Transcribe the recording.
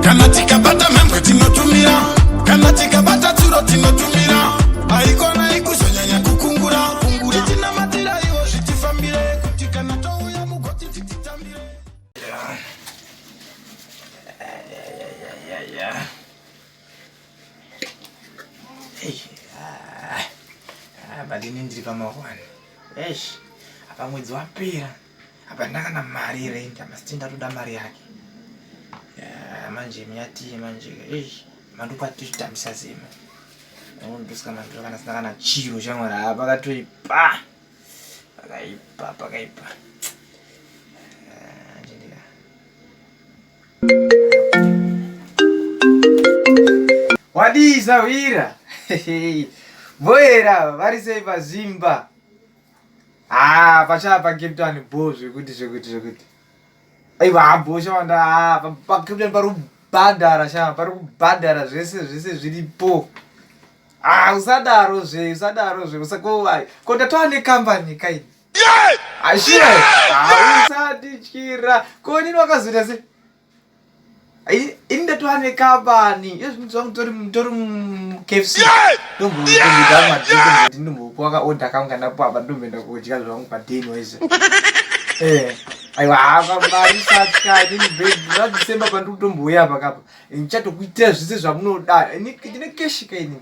kana tikabata mhembwe tinotumira kana tikabata tsuro tinotumira haikona ikuzonyanya kukungura kungura tinamatira iwo zvitifambire kuti kana touya mugoti tititambire ah, ah, ah, badini ndiri pamahwani esh apa mwedzi wapera hapana kana mari yerendi amasiti ndatoda mari yake eh, manje myatii manje eish mandupa tichitambisa zemo ndosika mandupa kana sina kana chiro shamwari haa pakatoipa pakaipa pakaipa wadii sahwira voera vari sei pazimba haa ah, pachava pakeptani bho zvekuti zvekuti zvekuti aiwa habho shawanda haa ah, pakeptani pari kubhadhara shava pari kubhadhara zvese zvese zviripo haa ah, usadaro zve usadaro zve usakovai ko ndatova nekambani kai ashira haa usatityira ko nini wakazoita se ini ndatova nekabani yezvinzi vangu tori mukfc ndombokuwaka oda kangu kana papa ndomboenda kudya zvangu padeni wese eh, aiwa havamari satya inini bed radecember pandiri kutombouya pakapa ndichatokuitira zvese zvamunoda ndine keshika inini